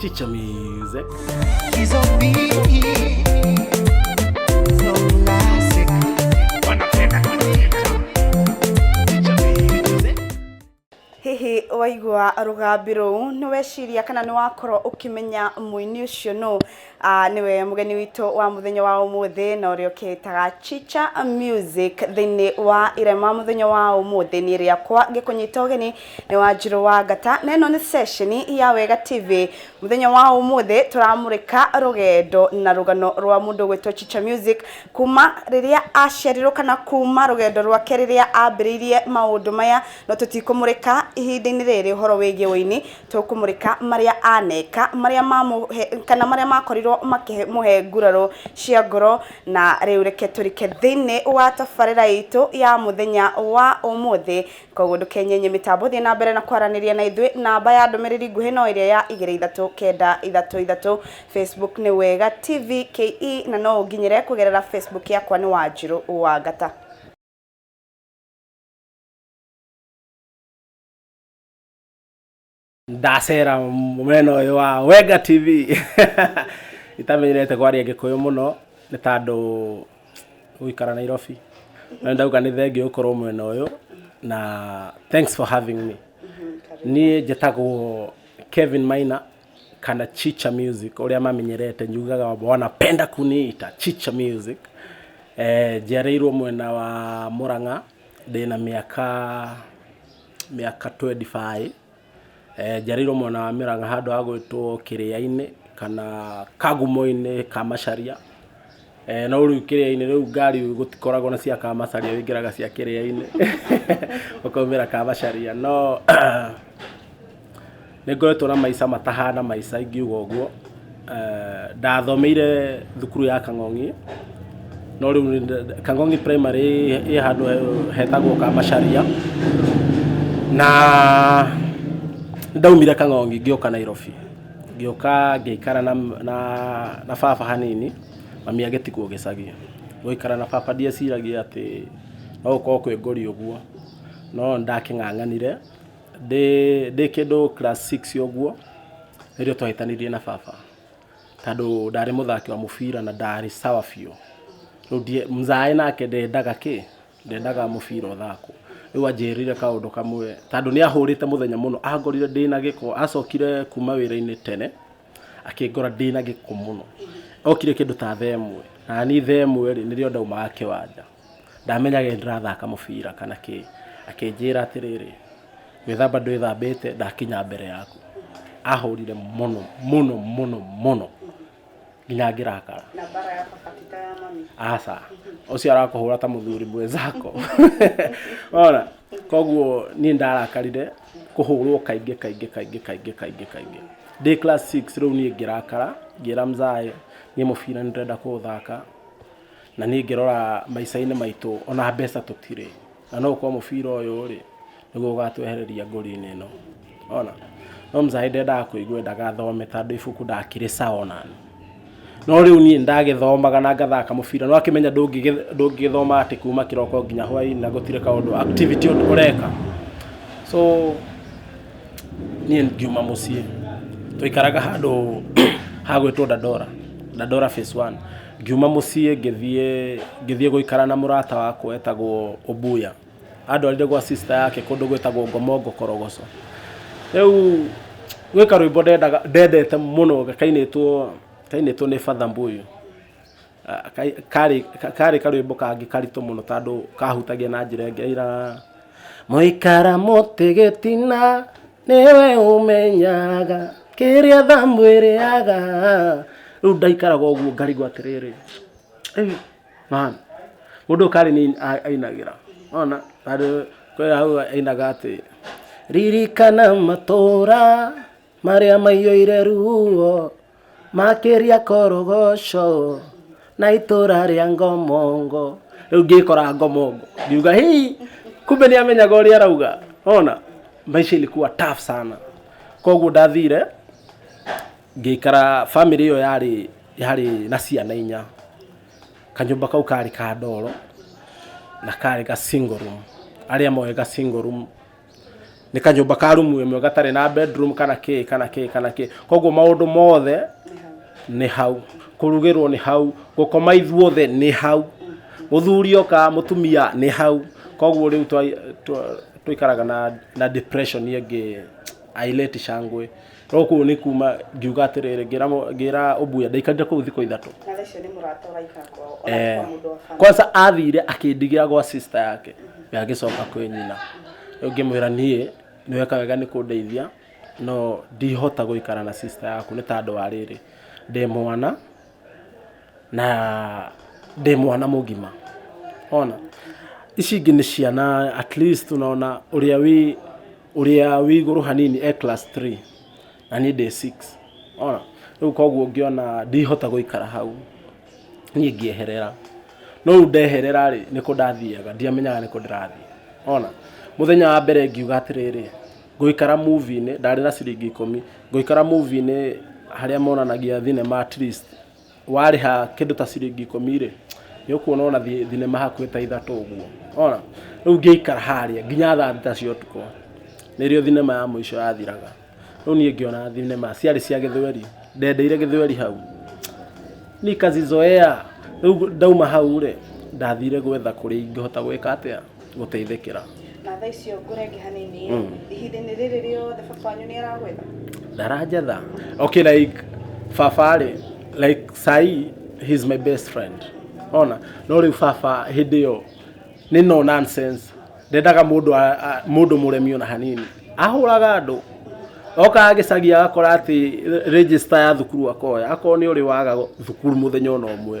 Chicha music. She's on me. So classic. Wanapenda kuniita. Chicha music. hihi waigua rũgambi rũu nĩ weciria kana nĩ wakorwo ũkĩmenya mũini ũcio nũ Ah, nĩwe mũgeni witũ wa mũthenya wa ũmũthĩ na ũrĩa ũkĩĩtaga chicha music thĩinĩ wa irema mũthenya wa ũmũthĩ nĩ rĩakwa ngĩkũnyita ũgeni nĩ wanjirũ wa ngata na ĩno nĩ ceceni ya wega tv mũthenya wa ũmũthĩ tũramũrĩka rũgendo na rũgano rwa mũndũ gwĩtwo chicha music kuma rĩrĩa aciarirwo kana kuma rũgendo rwake rĩrĩa ambĩrĩirie maũndũ maya no tũtikũmũrĩka ihinda-inĩ rĩrĩ ũhoro wĩgiĩ ũini tũkũmũrĩka marĩa aneka marĩa mamũhe kana marĩa makorirwo makĩmũhe nguraro cia ngoro na rĩu reke tũrike thĩinĩ wa tabarĩra itũ ya mũthenya wa ũmũthĩ Kwoguo ndũkenyenye mĩtambo, thiĩ na mbere na kwaranĩria na ithuĩ. Namba ya ndũmĩrĩri nguhĩ no ĩrĩa ya igĩrĩ ithatũ kenda ithatũ ithatũ. Facebook nĩ Wega TV KE na no ũnginyĩre kũgerera Facebook yakwa nĩ Wanjirũ Wangata. ndacera mwena ũyũ wa wenga tv itamenyerete kwaria gĩkũyũ mũno nĩ tandũ gũikara nairobi na ndauga nĩ thengi ũkorwo mwena ũyũ na thanks for having me niĩ njĩtagwo kevin maina kana chicha music ũrĩa mamenyerete njugaga wanapenda kuniita chicha music eh, njiarĩirwo mwena wa mũrang'a ndĩna mĩaka mĩaka 25 Njarĩirwo mwena wa Mĩrang'a handũ hagwĩtwo Kĩrĩainĩ kana Kagumoinĩ ka Macharia, no rĩu Kĩrĩainĩ rĩu ngari gũtikoragwo na cia ka Macharia wĩingĩraga cia Kĩrĩainĩ ũkaumĩra ka Macharia no nĩngoretwo na maica matahana maica ingiuga ũguo. Eh, ndathomeire thukuru ya kang'ong'i no rĩu nĩ nda- kang'ong'i primary ĩ- ĩ handũ he- hetagwo kamacaria na ndaumire kang'ong'i ngĩũka nairobi ngĩũka ngĩikara na, na, na baba hanini mami agĩtigwo gĩcagi gũikara na baba ndieciragia atĩ no gũkorwo kwĩ ngori ũguo no nĩ ndakĩng'ang'anire Ndĩ ndĩ kĩndũ class six ũguo, nĩrĩo twahĩtanirie na baba, tondũ ndarĩ mũthaki wa mũbira na ndarĩ sawa biũ, rĩu ndiĩ, mzai nake ndendaga kĩ? ndendaga mũbira ũthakwo, rĩu anjĩrĩire kaũndũ kamwe, tondũ nĩ ahũrĩte mũthenya mũno, angorire ndĩna gĩko, acokire kuuma wĩra-inĩ tene. akĩngora ndĩ na gĩko mũno okire kĩndũ ta thaa ĩmwe na niĩ thaa ĩmwe rĩ nĩrĩo ndaumaga kĩwanja ndamenyaga nĩ ndĩrathaka mũbira kana kĩ akĩnjĩra atĩrĩrĩ gwĩthamba ndwĩthambĩte ndakinya mbere yaku ahũrire mũno mũno mũno mũno nginya ngĩrakara na bara ya baba ti ta ya mami aca ũcio arakũhũra ta mũthuri mwenzako ona koguo niĩ nĩ ndarakarire kũhũrwo kaingĩ kaingĩ kaingĩ kaingĩ kaingĩ kaingĩ. Ndĩ class six rĩu niĩ ngĩrakara ngĩra mzai niĩ mũbira nĩ ndĩrenda kũũthaka na niĩ ngĩrora maica-inĩ maitũ ona mbeca tũtirĩ na no ũkorwo mũbira ũyũ rĩ nĩguo ũgatwehereria ngũri-inĩ ĩno. Nĩwona? No mzai ndendaga kũigua endaga thome tondũ ibuku ndakĩrĩ sawa onaniĩ. no rĩu niĩ ndagĩthomaga na ngathaka mũbira no akĩmenya ndũngĩgĩthoma atĩ kuma kĩroko nginya hwainĩ na gũtirĩ kaũndũ activity ũndũ ũreka so niĩ ngiuma mũciĩ twaikaraga handũ hagwĩtwo dandora dandora phase one ngiuma mũciĩ ngĩthiĩ ngĩthiĩ gũikara na mũrata wakwa etagwo ombuya. andwarire gwa sister yake kũndũ gwĩtagwo ngomongo korogoco rĩu gwĩ karwĩmbo ndendaga ndendete mũno kainĩtwo kainĩtwo nĩ father mbuyu Ah, kai- karĩ ka- karĩ karwĩmbo kangĩ karitũ mũno tondũ kahutagia na njĩra ĩngĩ aira mũikara mũtĩ gĩtina nĩwe ũmenyaga kĩrĩa thamwĩrĩaga rĩu ndaikaraga ũguo ngarigwo atĩrĩrĩ "Ĩ, Mami, mũndũ ũkarĩ nĩ ainagĩra ona tondũ kwĩ hau ainaga atĩ ririkana matũũra marĩa maiyũire ruo makĩria korogoco na itũũra rĩa ngomongo rĩu ngĩkora ngomongo ngiuga hii kumbe nĩ amenyaga ũrĩa arauga ona maisha ilikuwa tough sana koguo ndathire ngĩikara family ĩyo yarĩ yarĩ na ciana inya kanyũmba kau karĩ ka ndoro na karĩ ga single room arĩa moĩ ga single room nĩ kanyũmba ka rumu ĩmwe gatarĩ na bedroom kana kĩ kana kĩ kana kĩ koguo maũndũ mothe nĩ hau kũrugĩrwo nĩ hau gũkoma ithuothe nĩ hau mũthuri oka mũtumia nĩ hau koguo rĩu twa- twa- twaikaraga na, na depression ĩngĩ aileti shangwe No kũu nĩ kuma ngiuga atĩrĩrĩ ngĩra mũ- ngĩra ũmbuya ndaikarire kũu thikũ ithatũ Nala icio nĩ mũrata ũraikara kwao. Ona Eh, kwa mũndũ wa bamĩrĩ. kwanza athire akĩndigira gwa sister yake agĩcoka kwĩ nyina rĩu ngĩmwĩra niĩ nĩweka wega nĩ kũndeithia no ndihota gũikara na sister yaku nĩ tandũ wa rĩrĩ ndĩ mwana na ndĩ mwana mũgima ona ici ingĩ nĩ ciana at least unaona ũrĩa wĩ ũrĩa wĩ igũrũ hanini e class 3 na niĩ ndĩ 6 ona rĩu koguo ngĩona ndihota gũikara hau niĩ ngĩeherera no rĩu ndeherera rĩ nĩkũ ndathiaga ndiamenyaga nĩkũ ndĩrathiĩ ona mũthenya wa mbere ngiuga atĩrĩrĩ ngũikara movie-inĩ ndarĩ na ciringi ikũmi ngũikara movie-inĩ harĩa monanagia thinema at least warĩha kĩndũ ta ciringi ikũmi rĩ nĩ ũkuona ona thi- thinema hakuhĩ ta ithatũ ũguo ona rĩu ngĩikara harĩa nginya thaa thita cia ũtukũ nĩrĩo thinema ya mũico yathiraga rĩu niĩ ngĩona thinema ciarĩ cia gĩthweri ndendeire gĩthweri hau nikazizoea rĩu ndauma hau rĩ ndathire gwetha kũrĩa ingĩhota gwĩka atĩa gũteithĩkĩra na thaa icio ngũrenge hanini Mm. ihinda-inĩ rĩrĩ rĩothe baba wanyu nĩ aragwetha ndaranjetha okay like baba rĩ like sai he's my best friend ona no rĩu baba hĩndĩ ĩyo nĩ no nonsense ndendaga mũndũ a- a- mũndũ mũremi ona hanini ahũraga andũ okaga gĩcagi agakora atĩ re- register ya thukuru akoya akorwo nĩ ũrĩ waga thukuru mũthenya ona ũmwe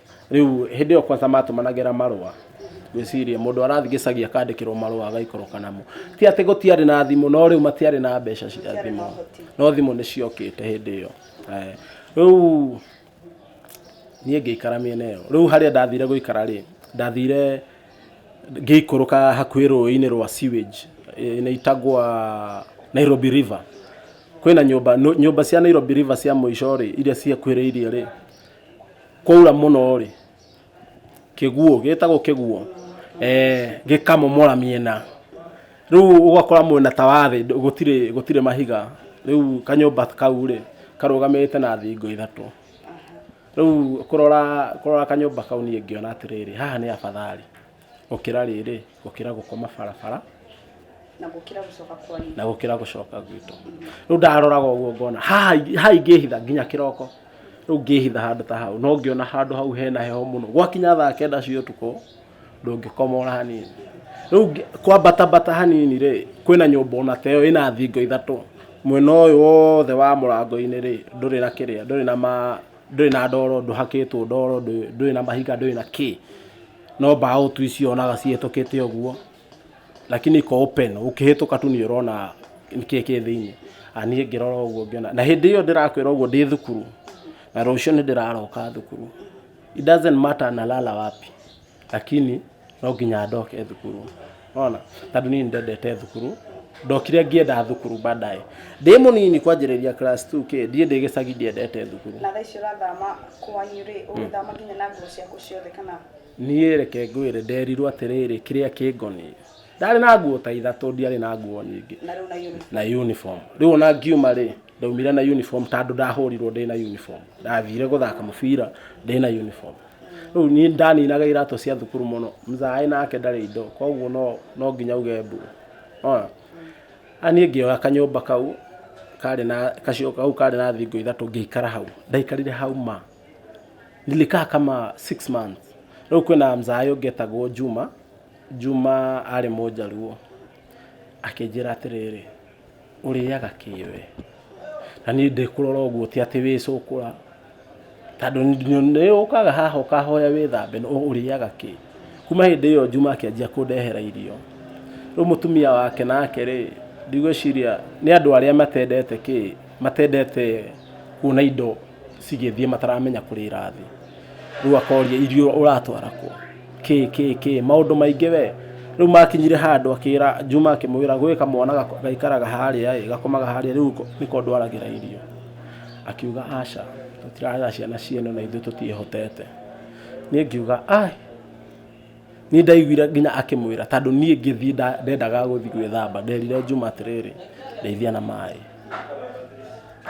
Rĩu hĩndĩ ĩyo kwanza matũmanagĩra marũa gwĩciria mũndũ arathiĩ gĩcagi akandĩkĩrwo marũa agaikoroka namo ti atĩ gũtiarĩ na thimũ no rĩu matiarĩ na mbeca cia thimũ no thimũ nĩ ciokĩte hĩndĩ ĩyo Eh, rĩu niĩ ngĩikara mĩena ĩyo rĩu harĩa ndathire gũikara rĩ ndathire ngĩikũrũka hakuhĩ rũĩ-inĩ rwa sewage eh, nĩ itagwa Nairobi River kwĩna nyũmba nũ- nyũmba cia Nairobi River cia mũico rĩ iria ciakuhĩrĩirie rĩ kwaura mũno rĩ kĩguũ gĩtagwo kĩguũ eh, gĩkamomora mĩena rĩu ũgakora mwena ta wa thĩ ndũ- gũtirĩ gũtirĩ mahiga rĩu kanyũmba kau rĩ karũgamĩte na thingo ithatũ rĩu kũrora kũrora kanyũmba kau niĩ ngĩona atĩrĩrĩ haha nĩ abathari Gũkĩra rĩrĩ, gũkĩra gũkoma barabara. Na gũkĩra gũcoka kwanyu. Na gũkĩra gũcoka gwitũ. Rĩu ndaroraga ũguo ngona haha haha ingĩhitha nginya kĩroko. Rĩu ngĩhitha handũ ta hau no ngĩona handũ hau hena heho mũno. Gwakinya thaa kenda cia ũtukũ ndũngĩkoma ona hanini. Rĩu kwambata mbata hanini rĩ, kwĩna nyũmba ona ta ĩyo ĩna thingo ithatũ. Mwena ũyũ wothe wa mũrango-inĩ rĩ, ndũrĩ na kĩrĩa, ndũrĩ na ma, ndũrĩ na ndoro, ndũhakĩtwo ndoro, ndũrĩ na mahiga, ndũrĩ na kĩ. no mbaũ tu icio onaga cihĩtũkĩte ũguo lakini iko open ũkĩhĩtũka tu nĩ ũrona nĩkĩĩ kĩ thĩinĩ Ah, niĩ ngĩrora ũguo ngĩona na hĩndĩ ĩyo ndĩrakwĩra ũguo ndĩ thukuru na rũciũ nĩ ndĩraroka thukuru it doesn't matter nalala wapi lakini no nginya ndoke thukuru ona tondå niä ndendete thukuru ndokire ngĩenda thukuru baadaye ndä må nini kwanjĩrĩria class 2 kä ndiä ndä gä cagi ndiendete thukuru na thaa icio ũrathama kwanyu rĩ ũgĩthama nginya na nguo ciaku ciothe kana niä reke ngwä re nderirwo atä rä rä kä rä a kä ngoniä ndarä na nguo ta ithatå ndiarä na nguo nyingä na rĩu na uniform na uniform rĩu ona ngiuma rĩ ndaumire na uniform tondũ ndahũrirwo ndĩ na uniform ndathire gũthaka mũbira ndĩ na uniform rĩu niĩ ndaninaga iratũ cia thukuru mũno mzaĩ nake ndarĩ indo koguo no no nginya uge mbu ona aniĩ ngĩoya kanyũmba kau karĩ na kacio kau karĩ na thingo ithatũ ngĩikara hau ndaikarire hau ma nilikaa kama six months rĩu kwĩna mzaĩ ũngĩ etagwo Juma Juma arĩ mũjaluo akĩnjĩra atĩrĩrĩ ũrĩaga kĩ we na niĩ ndĩkũrora ũguo ti atĩ wĩ cũkũra tondũ nĩ ũkaga haha ũkahoya wĩthambe no ũrĩaga kĩ kuma hĩndĩ ĩyo njuma akĩanjia kũndehera irio rĩu mũtumia wake nake rĩ ndigwĩciria nĩ andũ arĩa matendete kĩ matendete kuona indo cigĩthiĩ mataramenya kũrĩa irathiĩ rĩu akoria irio ũratwara kũ kĩ kĩ kĩ maũndũ maingĩ we rĩu makinyire handũ akĩra juma akĩmwĩra gwĩ kamwana gako- gaikaraga harĩa ĩ gakomaga harĩa rĩu ko- nĩko ndwaragĩra irio akiuga aca tũtirarera ciana ciene na ithuĩ tũtiĩhotete niĩ ngiuga ai Nĩ ndaiguire nginya akĩmwĩra tondũ niĩ ngĩthiĩ nda- ndendaga gũthiĩ gwĩthamba nderire Juma atĩrĩrĩ ndeithia na maĩ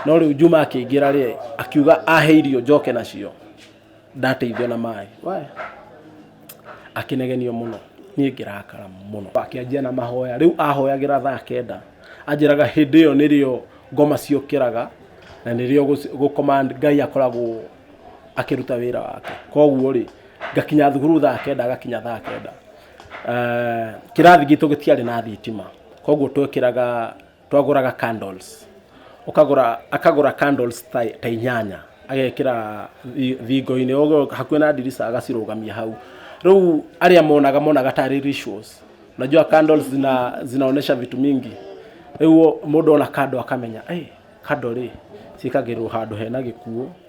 no rĩu Juma akĩingĩra rĩ akiuga ahe irio njoke nacio ndateithio na maĩ we akĩnegenio mũno niĩ ngĩrakara mũno akĩanjia na mahoya rĩu ahoyagĩra thaa kenda anjĩraga hĩndĩ ĩyo nĩrĩo ngoma ciũkĩraga na nĩrĩo gũci- gũkoma Ngai akoragwo akĩruta wĩra wake koguo rĩ ngakinya thukuru thaa kenda agakinya thaa kenda Eh, kĩrathi gitũ gĩtiarĩ na thitima koguo twekĩraga twagũraga candles ũkagũra akagũra candles ta, ta inyanya agekĩra thi- thingo-inĩ ũguo hakuhĩ na ndirica agacirũgamia hau rĩu arĩa monaga monaga tarĩ rituals unajua candles zina, zinaonesha vitu mingi rĩu mũndũ ona kando akamenya hey, kando rĩ ciĩkagĩrwo handũ hena gĩkuũ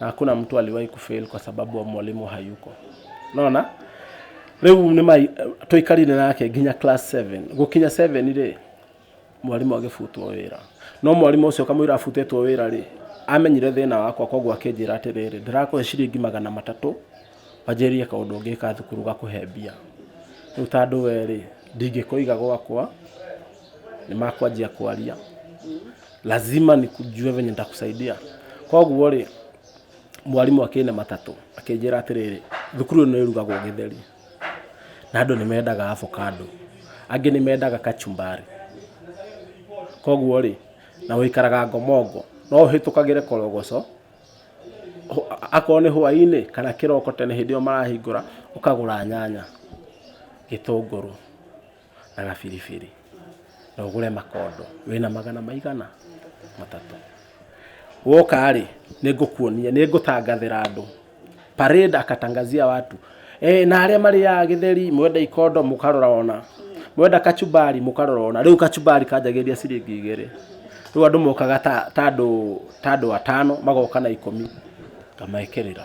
Hakuna mtu aliwahi kufail kwa sababu wa mwalimu hayuko. Unaona? Rĩu nĩ mai tũikarire nake nginya class 7. Gũkinya 7 rĩ mwarimũ agĩbutwo wĩra. No mwarimũ ũcio kamũira abutĩtwo wĩra rĩ amenyire thĩna wakwa koguo akĩnjĩra atĩrĩrĩ ndĩrakũhe ciringi magana matatũ wanjĩrĩrie kaũndũ ũngĩ ka thukuru gakũhe mbia. Rĩu ta andũ erĩ ndingĩkũiga gwakwa nĩ makwanjia kwaria. lazima nikujue venye nitakusaidia koguo rĩ mwarimũ akĩne matatũ akĩnjĩra atĩrĩrĩ thukuru ĩno ĩrugagwo gĩtheri na andũ nĩ mendaga avocado angĩ nĩ mendaga kachumbari koguo rĩ na ũikaraga ngomongo no ũhĩtũkagĩre korogoco ho- a- akorwo nĩ hwainĩ kana kĩroko tene hĩndĩ ĩyo marahingũra ũkagũra nyanya gĩtũngũrũ na gabiribiri na ũgũre makondo wĩna magana maigana matatũ woka rĩ nĩ ngũkuonia nĩ ngũtangathĩra andũ parade akatangazia watu e, na arĩa marĩaga gĩtheri mwenda ikondo mũkarora ona mwenda kachumbari mũkarora ona rĩu kachumbari kanjagĩria ciringi igĩrĩ rĩu andũ mokaga ta ta andũ ta andũ atano magoka na ikũmi ngamekĩrĩra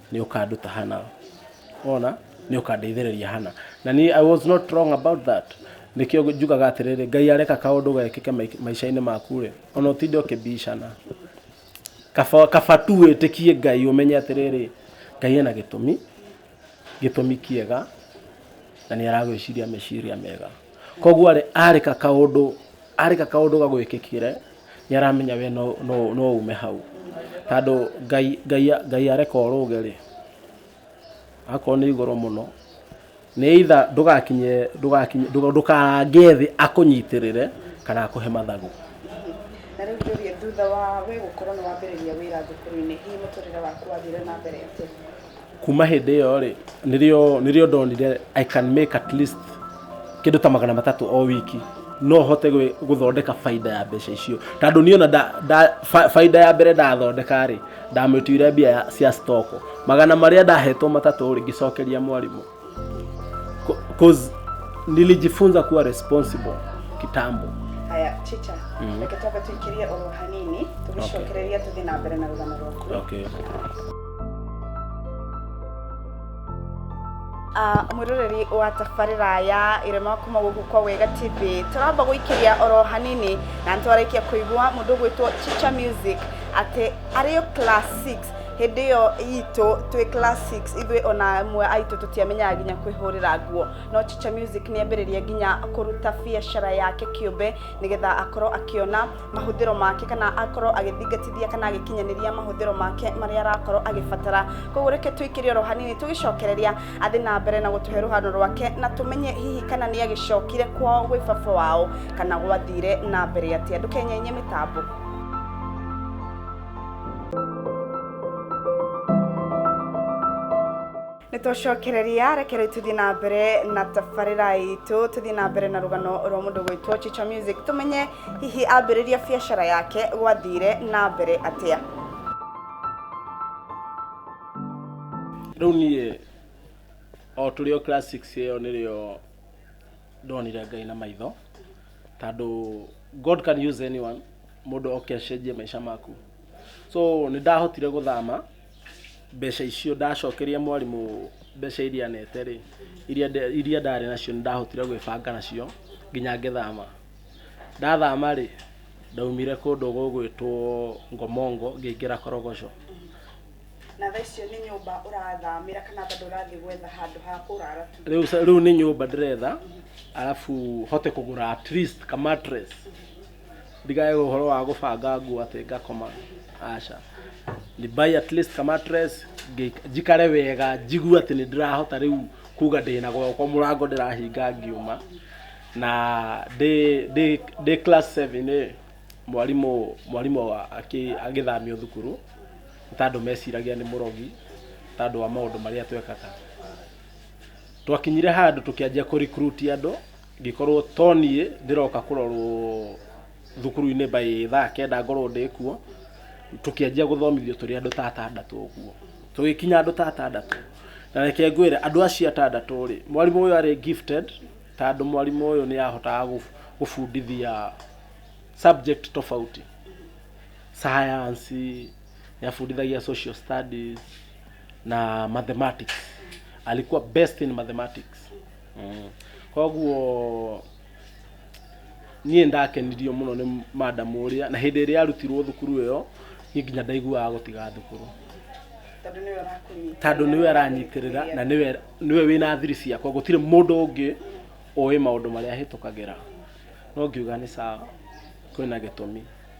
nĩ ũkanduta hana ona nĩ ũkandeithĩrĩria hana na niĩ i was not wrong about that nĩkĩo njugaga atĩrĩrĩ ngai areka kaũndũ gekĩke mai- maica-inĩ maku rĩ ona ũtinde ũkĩbicana kaba kaba tu wĩtĩkie ngai ũmenye atĩrĩrĩ ngai ena gĩtũmi gĩtũmi kĩega na nĩ aragwĩciria meciria mega koguo rĩ arĩka kaũndũ arĩka kaũndũ gagwĩkĩkire nĩ aramenya we no, no, no ume hau tondũ ngai, ngai, ngai areka ũrũge rĩ akorwo nĩ igũrũ mũno nĩ itha ndũgakinye ndũgakinye ndũga- ndũkarange thĩ akũnyitĩrĩre kana akũhe mathagu na rĩu njũrie thutha wa we gũkorwo nĩ wambĩrĩria wĩra thukuru-inĩ hihi mũtũrĩre waku wathire na mbere atĩa kuma hĩndĩ ĩyo rĩ nĩrĩo nĩrĩo ndonire i can make at least kĩndũ ta magana matatũ o wiki no hote gwĩ- gũthondeka baida ya mbeca icio tondũ niĩ ona nda- nda- ba- baida ya mbere ndathondeka rĩ ndamĩtuire mbia ya- cia stoko magana marĩa ndahetwo matatũ rĩ ngĩcokeria mwarimũ Co- Cause nilijifunza kuwa responsible kitambo. haya chicha Mhm. reke twambe tũingĩrie oro hanini tũgĩcokereria tũthiĩ na mbere na rũgano rwaku Okay. Ah, mwĩroreri wa tabarĩra ya irema kuma gũkũ kwa wega tv tũramba gũikĩria oro hanini na nĩtwarĩkia kũigua mũndũ gwĩtwo chicha music atĩ arĩ o class 6 Hĩndĩ ĩyo itũ twĩ class 6 ithuĩ ona amwe aitũ tũtiamenyaga nginya kwĩhũrĩra nguo no Chicha Music nĩ ambĩrĩrie nginya kũruta biacara yake kĩũmbe nĩgetha akorwo akĩona mahũthĩro make kana akorwo agĩthingatithia kana agĩkinyanĩria mahũthĩro make marĩa arakorwo agĩbatara koguo reke tũikĩre oro hanini tũgĩcokereria athiĩ na mbere na gũtũhe rũhano rwake na tũmenye hihi kana nĩ agĩcokire kwao gwĩ baba wao kana gwathire na mbere atĩa ndũkenyainye mĩtambo nitũcokereria reke rĩu tũthiĩ na mbere na tabarĩra itũ tũthiĩ na mbere na rũgano rwa mũndũ gwĩtwo chicha music tũmenye hihi ambĩrĩria biacara yake gwathire na mbere atĩa rĩu niĩ o tũrĩ o class six ĩyo nĩrĩo ndonire ngai na maitho tondũ god can use anyone mũndũ oke acenjie maica maku so nĩ ndahotire gũthama mbeca icio ndacokeria mwarimũ mbeca iria nete rĩ iria nde- iria ndarĩ nacio nĩ ndahotire gwĩbanga nacio nginya ngĩthama ndathama rĩ ndaumire kũndũ gũgwĩtwo ngomongo ngĩingĩra korogoco na thaa icio nĩ nyũmba ũrathamĩra kana bado ũrathiĩ gwetha handũ ha kũrara tu rĩu sa- rĩu nĩ nyũmba ndĩretha arabu hote kũgũra at least ka mattress ndikae ũhoro wa gũbanga nguo atĩ ngakoma aca ni buy at least ka mattress ngĩik- njikare wega njigue atĩ nĩ ndĩrahota rĩu kuga ndĩna gwakwa mũrango ndĩrahinga ngiuma na ndĩ ndĩ ndĩ class 7 rĩ mwarimũ mwarimũ wa- akĩ- agĩthamio thukuru nĩ tondũ meciragia nĩ mũrogi tondũ wa maũndũ marĩa twekaga twakinyire handũ tũkĩanjia kũ recruit andũ Ngĩkorwo to niĩ ndĩroka kũrorwo thukuru-inĩ by thaa kenda ngorwo ndĩ kuo, tũkĩanjia gũthomithio tũrĩ andũ ta atandatũ ũguo. Tũgĩkinya andũ ta atandatũ, na reke ngwĩre andũ acio atandatũ rĩ, mwarimũ ũyũ arĩ gifted tondũ mwarimũ ũyũ nĩ ahotaga gũbundithia subject tofauti. Science, nĩ abundithagia social studies na mathematics. Alikuwa best in mathematics. Mm. koguo niĩ ndakenirio mũno nĩ madam ũrĩa na hĩndĩ ĩrĩa arutirwo thukuru ĩyo niĩ nginya ndaiguaga gũtiga thukuru tondũ nĩwe ũrakũnyita tandå nä we aranyitärä na nä we- nĩ we wä na thiri ciakwa gå tirä må ndå å ngä å ä maå ndå marä a hä tå kagä ra no ngiuga nä sawa kwä na gä tå mi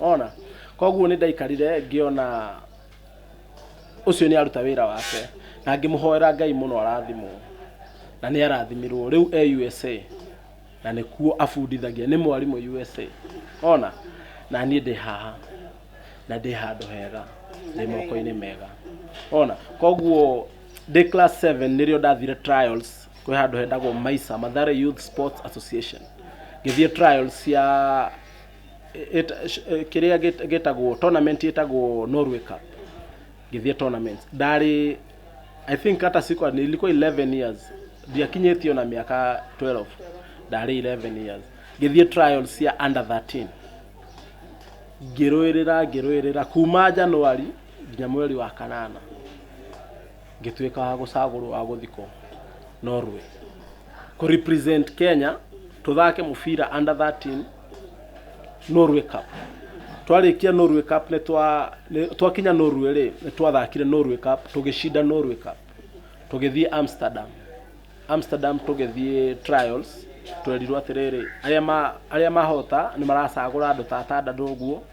ona koguo nĩ ndaikarire ngĩona ũcio nĩ aruta wĩra wake na ngĩmũhoera ngai mũno arathimwo na nĩ arathimirwo rĩu e usa na nĩkuo abundithagia nĩ mwarimũ usa ona na niĩ ndĩ haha na ndĩ handũ hega ndĩ moko-inĩ mega ona koguo ndĩ class 7 nĩrĩo ndathire trials kwĩ handũ hetagwo maisa mathare youth sports association ngĩthiĩ trials cia kĩrĩa gĩtagwo tournament ĩtagwo Norway Cup ngĩthiĩ tournament ndarĩ I think hata sikuwa nilikuwa 11 years ndiakinyĩtie ona mĩaka 12 ndarĩ 11 years ngĩthiĩ trials cia under 13 ngĩrũĩrĩra ngĩrũĩrĩra kuma January nginya mweri wa kanana ngĩtuĩka wa gũcagũrwo wa gũthikwo Norway kũ represent Kenya tũthake mũbira under 13 Norway Cup twarĩkia Norway Cup nĩ twa nĩ- twakinya Norway rĩ nĩ twathakire Norway Cup tũgĩcinda Norway Cup tũgĩthiĩ Amsterdam Amsterdam tũgĩthiĩ trials twerirwo atĩrĩrĩ arĩa ma arĩa mahota nĩ maracagũra andũ ta atandatũ ũguo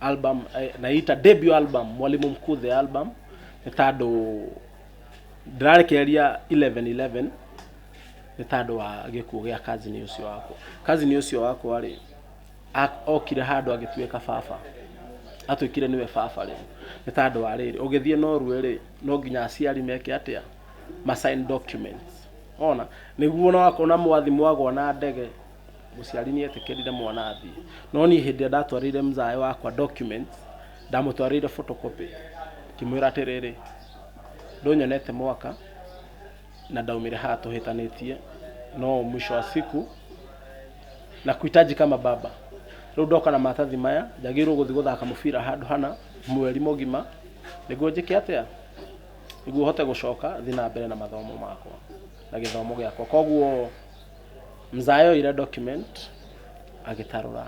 album eh, naita debut album mwalimu mkuu the album nĩ tandũ ndĩrarekereria 1111 nĩ tandũ wa gĩkuũ gĩa kazini ũcio wakwa kazini ũcio wakwa rĩ a- okire handũ agĩtuĩka baba atwĩkire nĩwe baba rĩ nĩ tandũ wa rĩrĩ ũgĩthiĩ norue rĩ no nginya aciari meke atĩa masign documents ona nĩguo ona wakorwo na mwathi mwagwa na ndege mũciari nĩ etĩkĩrire mwana athiĩ no niĩ hĩndĩ ĩrĩa ndatwarĩire mzae wakwa documents ndamũtwarĩire photocopy ngĩmwĩra atĩrĩrĩ ndũnyonete mwaka na ndaumire haha tũhĩtanĩtie no mwisho wa siku na kuhitaji kama baba rĩu ndoka na maratathi maya njagĩrĩirwo gũthiĩ gũthaka mũbira handũ hana mweri mũgima nĩguo njĩke atĩa nĩguo hote gũcoka thiĩ na mbere na mathomo makwa na gĩthomo gĩakwa koguo Mzaa yoire document agĩtarũra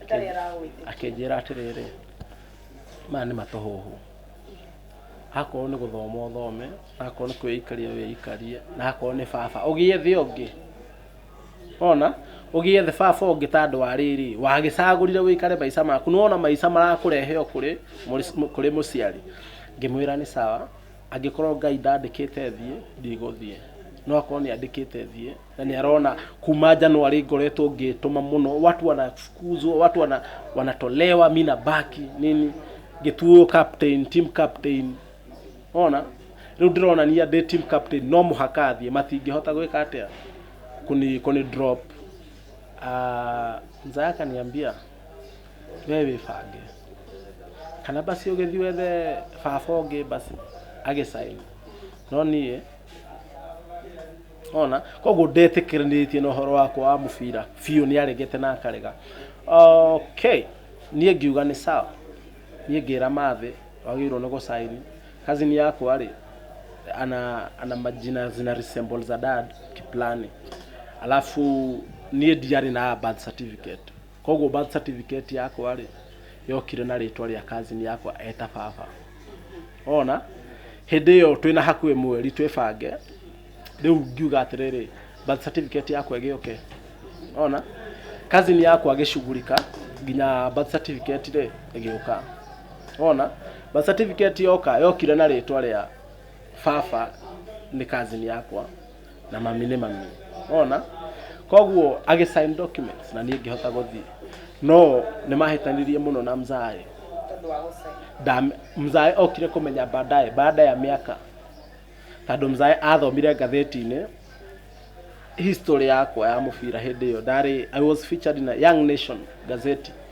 Atarĩ aragwĩtĩkia. akĩnjĩra atĩrĩrĩ maya nĩ matũhũhũ akorwo nĩ gũthoma ũthome akorwo nĩ kwĩikaria wĩikarie na akorwo nĩ baba ũgĩethe ũngĩ ona ũgĩethe baba ũngĩ ta andũ a rĩrĩ wagĩcagũrire wĩikare maica maku nĩwona maica marakũrehe o kũrĩ mũrĩ- kũrĩ mũciari ngĩmwĩra nĩ sawa Angĩkorwo Ngai ndandĩkĩte thiĩ, ndigũthiĩ. No akorwo nĩ andĩkĩte thiĩ, na nĩ arona kuma January ngoretwo ngĩtũma mũno, watu wanafukuzwa, watu wana, wanatolewa, mi nabaki nini, ngĩtuo captain, team captain. Ona rĩu ndĩronania ndĩ team captain, no mũhaka thiĩ, matingĩhota gwĩka atĩa, kũni, kũni drop. Ah, mzee akaniambia wewe wĩbange. kana basi ũgĩthiĩ wethe baba ũngĩ basi agĩcaina no niĩ ona koguo ndetĩkĩranĩtie na ũhoro wakwa wa mũbira biũ nĩ aregete na akarega okay niĩ ngiuga nĩ sawa niĩ ngĩra mathĩ wagĩrĩirwo nĩ gũcaini cousin yakwa rĩ ana, ana majina zina resemble za dad kiplani alafu niĩ ndiarĩ na birth certificate Koguo birth certificate yakwa rĩ yokire na rĩtwa rĩa cousin yakwa eta baba ona hĩndĩ ĩyo twĩ na hakuhĩ mweri twĩbange rĩu ngiuga atĩrĩrĩ birth certificate yakwa ĩgĩũke ona cousin yakwa agĩcugurika nginya birth certificate rĩ ĩgĩũka ona birth certificate yoka yokire na rĩtwa rĩa baba nĩ cousin yakwa na mami nĩ mami ona koguo agĩ sign documents na niĩ ngĩhota gũthiĩ no nĩ mahĩtanirie mũno na mzaĩ tondũ wa gũcaina Ndam- mzaĩ okire kũmenya baadaye baada ya mĩaka tondũ mzaĩ athomire ngathĩti-inĩ history yakwa ya mũbira hĩndĩ ĩyo ndarĩ i was featured in a young nation gazeti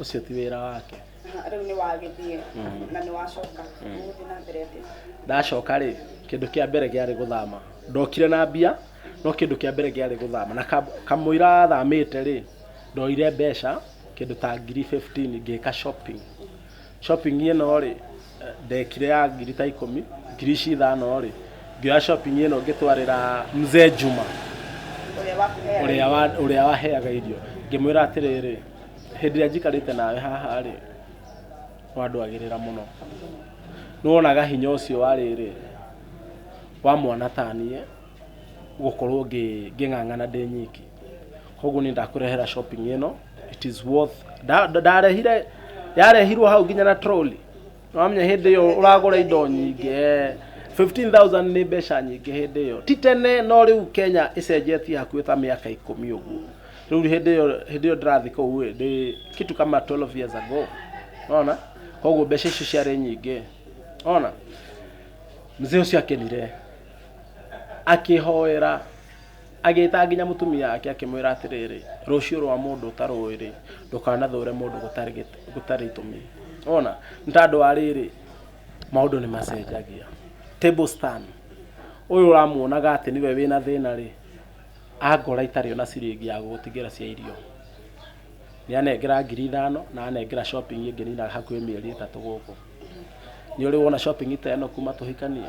ũcio ti wĩra wake Aha, rĩu nĩ wagĩthiĩ na nĩ wacoka gũthiĩ na mbere atĩ ndacoka rĩ kĩndũ kĩa mbere gĩarĩ gũthama ndokire na mbia no kĩndũ kĩa mbere gĩarĩ gũthama na kam- kamũira thamĩte rĩ ndoire mbeca kĩndũ ta ngiri 15 ngĩka shopping Shopping ĩno rĩ ndekire ya ngiri ta ikũmi ngiri ici ithano rĩ ngĩoya shopping ĩno ngĩtwarĩra mzee Juma Ũrĩa wakũheaga ũrĩa wa- ũrĩa waheaga irio ngĩmwĩra atĩrĩrĩ hĩndĩ ĩrĩa njikarĩte nawe haha rĩ wandwagĩrĩra mũno nĩwonaga hinya ũcio wa rĩrĩ wa mwana ta niĩ gũkorwo ngĩng'ang'ana ndĩ nyiki koguo nĩ ndakũrehera shopping ĩno it is worth ndarehire yarehirwo hau nginya na trolley wamenya hĩndĩ ĩyo ũragũra indo nyingĩ 15000 nĩ mbeca nyingĩ hĩndĩ ĩyo ti tene no rĩu Kenya ĩcenjetie hakuhĩ ta mĩaka ikũmi ũguo rĩu hĩndĩ ĩyo hĩndĩ ĩyo ndĩrathiĩ kũu ĩ ndĩ kitu kama 12 years ago ona koguo mbeca icio ciarĩ nyingĩ ona mzee ũcio akenire Akĩhoera, agĩĩta nginya mũtumia wake akĩmwĩra atĩrĩrĩ, rũciũ rwa mũndũ ũtarũĩ-rĩ, ndũkanathũũre mũndũ gũtarĩ gĩtũ, gũtarĩ itũmi. Nĩwona? Nĩ ta andũ a rĩrĩ, maũndũ nĩ macenjagia. Table stand. Ũyũ ũramuonaga atĩ nĩwe wĩna thĩna-rĩ, angora itarĩ ona ciringi ya gũgũtigĩra cia irio, nĩ anengera ngiri ithano na anengera shopping ĩngĩ nina hakuhĩ mĩeri ĩtatũ gũkũ. nĩ ũrĩ wona shopping ta ĩno kuma tũhikanie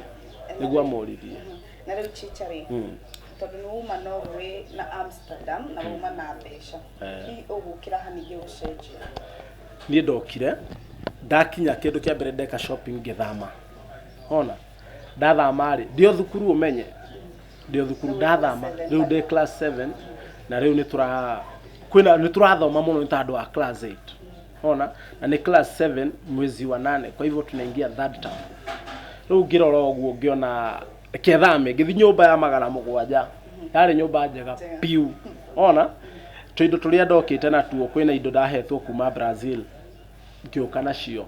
nĩguo amũrithie na rĩu chicha rĩ Mm. tondũ nĩ uma norway na amsterdam na uma na mbeca Eh. hihi ũgũkĩra ha ningĩ gũcenjia niĩ ndokire ndakinya kĩndũ kĩa mbere ndeka shopping ngĩthama ona ndathama rĩ ndĩ o thukuru ũmenye ndĩ o thukuru ndathama rĩu ndĩ class 7 na rĩu nĩ tũra kwĩna nĩ tũrathoma mũno nĩ ta andũ a class 8 unaona na nĩ class 7 mwezi wa nane kwa hivyo tunaingia third term rĩu ngĩrora ũguo ngĩona kethame ngĩthi nyũmba ya magana mũgwanja yarĩ nyũmba njega piu ona tũindo tũrĩa ndokĩte natuo kwĩna indo ndahetwo kuma brazil ngĩũka nacio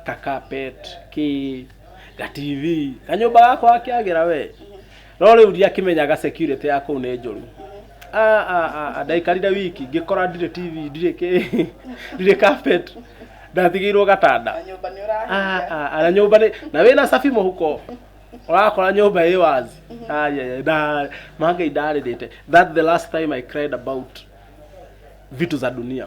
kakapet kĩ gatv kanyũmba gakwa gakĩagĩra we no rĩu ndiakĩmenyaga security ya kũu nĩ njũru Ah, ah, ah, ah, ndaikarire wiki ngĩkora ndirĩ tv ndirĩ kĩ ndirĩ carpet ndatigĩirwo gatanda Na nyũmba nĩ Ah, ũrahinga. ah, ah, na nyũmba nĩ na wĩna cabi mũhuko ũrakora nyũmba ĩ wazi Ayaya, nda- mangai ndarĩrĩte that the last time i cried about vitu za dunia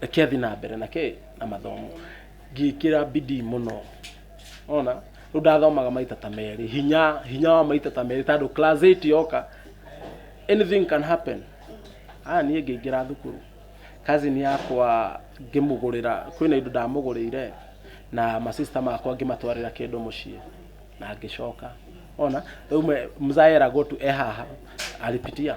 reke thiĩ na mbere na kĩ na mathomo ngĩkĩra bidii mũno ona rĩu ndathomaga maita ta merĩ hinya hinya wa maita ta merĩ tondũ class 8 yoka anything can happen aya niĩ ngĩingĩra thukuru cousin yakwa ngĩmũgũrĩra kwĩna indo ndamũgũrĩire na masista makwa ngĩmatwarĩra kĩndũ mũciĩ na ngĩcoka ona rĩu me- mzaya eragwo tu e haha alipitia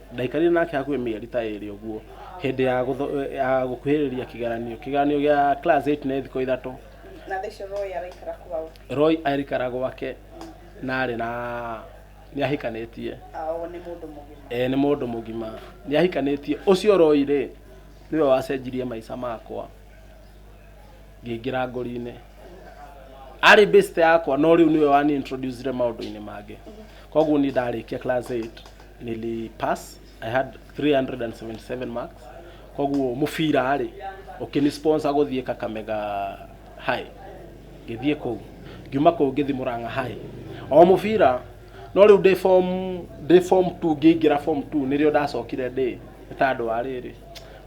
Ndaikarire nake hakuhĩ mĩeri ta ĩrĩ ũguo hĩndĩ ya gũtho- ya gũkuhĩrĩria kĩgeranio. Kĩgeranio gĩa class 8 nĩ thikũ ithatũ. Na thaa icio Roy araikara kwao. Roy aikara gwake na arĩ na nĩ ahikanĩtie. Ao nĩ mũndũ mũgima. E, nĩ mũndũ mũgima nĩ ahikanĩtie. Ũcio Roy rĩ nĩwe wacenjirie maica makwa. ngĩingĩra ngori-inĩ arĩ best yakwa no rĩu nĩwe wani introducire maũndũ-inĩ mangĩ koguo niĩ ndarĩkia class 8 nili pass i had 377 marks koguo mũbira rĩ ũkĩni sponsor gũthiĩ kakamega high ngĩthiĩ kũu ngiuma kũu ngĩthiĩ mũrang'a high o mũbira no rĩu ndĩ form ndĩ form 2 ngĩingĩra form 2 nĩrĩo ndacokire ndĩ nĩ ta andũ a rĩrĩ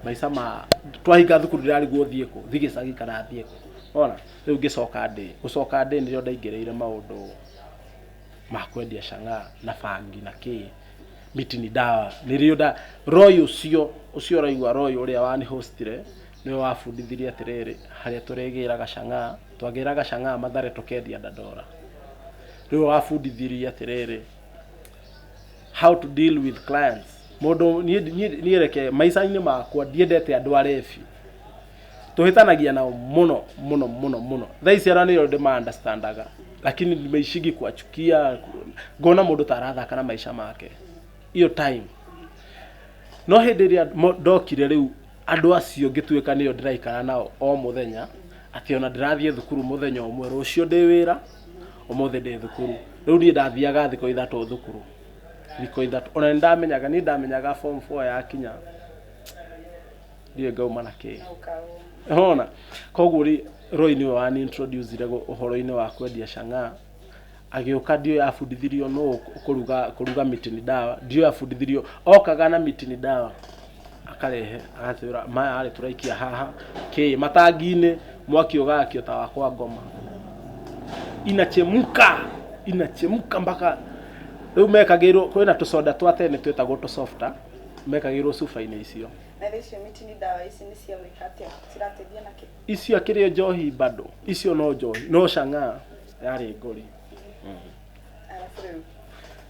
maica ma twahinga thukuru ndirarigwo thiĩ kũ thiĩ gĩcagi kana thiĩ kũ ona rĩu ngĩcoka ndĩ gũcoka ndĩ nĩrĩo ndaingĩrĩire maũndũ ma kwendia cang'a na bangi na kĩ miti ni ndawa nĩrĩo nda roi ũcio ũcio ũraigua roi ũrĩa wani hostire nĩwe wabundithirie atĩrĩrĩ harĩa tũrĩgĩraga cang'a twagĩraga cang'a mathare tũkendia ndandora nĩwe wabundithirie atĩrĩrĩ How to deal with clients. Mũndũ niĩ niĩ niĩ reke maica-inĩ makwa ndiendete andũ arebi. Tũhĩtanagia nao mũno mũno mũno mũno. Thaa ici andũ nĩo ndĩma understandaga lakini nimeishigi kuwachukia ngona mũndũ ta arathaka na maica make. Hiyo time. No hĩndĩ ĩrĩa mo- ndokire rĩu andũ acio ngĩtuĩka nĩo ndĩraikara nao o mũthenya, atĩ ona ndĩrathiĩ thukuru mũthenya ũmwe, rũciũ ndĩ wĩra, ũmũthĩ ndĩ thukuru rĩu niĩ ndathiaga thikũ ithatũ thukuru thikũ ithatũ ona nĩndamenyaga niĩ ndamenyaga form four yakinya ndiũĩ ngauma na kĩĩ hona koguo rĩ Roy nĩwe wani introduce ire gũ- ũhoro-inĩ wa kwendia cang'aa agĩũka ndiũĩ abundithirio nũ kũruga kũruga miti ni dawa ndiũĩ abundithirio okaga na miti ni dawa akarehe agatwĩra maya rĩ tũraikia haha kĩ matangi-inĩ mwaki ũgakio ta wakwa ngoma inachemka inachemka mpaka rĩu mekagĩrwo kwĩna tũcoda twa tene twĩtagwo tũsofta mekagĩrwo cuba-inĩ icio na rä icio miti nä ndawa ici nä cia gwä ka atä a cirateithia na kä icio akĩrĩ njohi bado icio no njohi no cang'aa yarĩ ngori arabu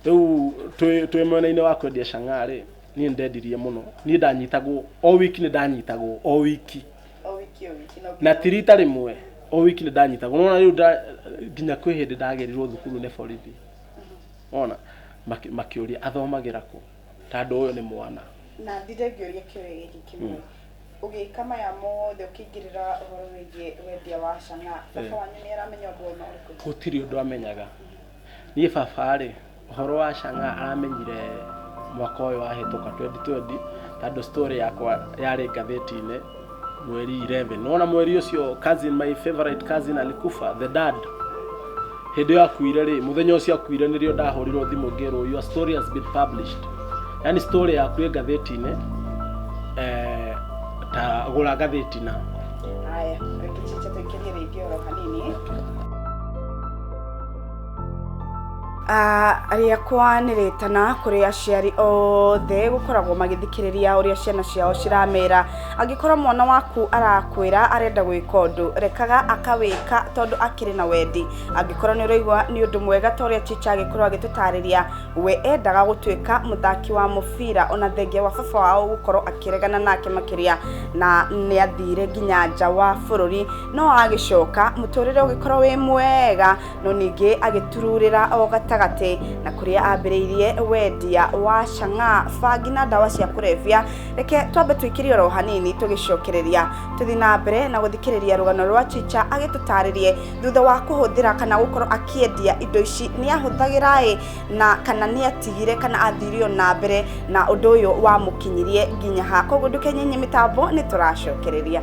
rä u rĩu twĩ twĩ mwena-inĩ wa kwendia cang'aa rĩ niĩ ndendirie mũno niĩ ndanyitagwo o wiki nĩ ndanyitagwo o wiki o wiki o wiki no na ti rita rĩmwe o wiki nĩ ndanyitagwo nona rĩu nda- nginya kwĩ hĩndĩ ndagerirwo thukuru nĩ borithi ona makĩ- makĩũria athomagĩra kũ tandũ ũyũ nĩ mwana na ndinde ngĩũria kĩũria gĩkĩ kĩmwe ũgĩka maya mothe ũkĩingĩrĩra ũhoro wĩgiĩ wendia wa cang'aa baba Eh. wanyu nĩ aramenya ũndũ ona ũrĩkũ gũtirĩ ũndũ amenyaga niĩ baba rĩ Ũhoro wa Chang'a aramenyire mwaka ũyũ wahĩtũka 2020 tondũ story yakwa yarĩ ngathĩti-inĩ mweri 11 nona mweri ũcio cousin my favorite cousin alikufa the dad hĩndĩ ĩyo akuire rĩ mũthenya ũcio akuire nĩrĩo ndahũrirwo thimũ ngĩrwo your story has been published yani story yaku ĩ ngathĩti-inĩ eh, ta gũra ngathĩti na Haya, reke tũingĩrie rĩngĩ oro hanini. rĩakwa nĩ rĩtana kũrĩ aciari othe gũkoragwo magĩthikĩrĩria ũrĩa ciana ciao ciramera. Angĩkorwo mwana waku arakwĩra arenda gwĩka ũndũ, rekaga akawĩka tondũ akĩrĩ na wendi. Angĩkorwo nĩ ũraigua nĩ ũndũ mwega ta ũrĩa teacher agĩkorwo agĩtũtarĩria, we endaga gũtuĩka mũthaki wa mũbira ona thengia wa baba wao gũkorwo akĩregana nake makĩria na nĩ athire nginya nja wa bũrũri. No agĩcoka, mũtũrĩre ũgĩkorwo wĩ mwega. no ningĩ agĩtururĩra o gatagatĩ na kũrĩa ambĩrĩirie wendia wa cang'aa bangi na ndawa cia kũrebia reke twambe tũikĩrie oro hanini tũgĩcokereria tũthiĩ na mbere na gũthikĩrĩria rũgano rwa chicha agĩtũtarĩrie thutha wa kũhũthĩra kana gũkorwo akĩendia indo ici nĩ ahũthagĩra ĩ na kana nĩ atigire kana athire o na mbere na ũndũ ũyũ wamũkinyirie nginya ha koguo ndũkenyenye mĩtambo nĩ tũracokereria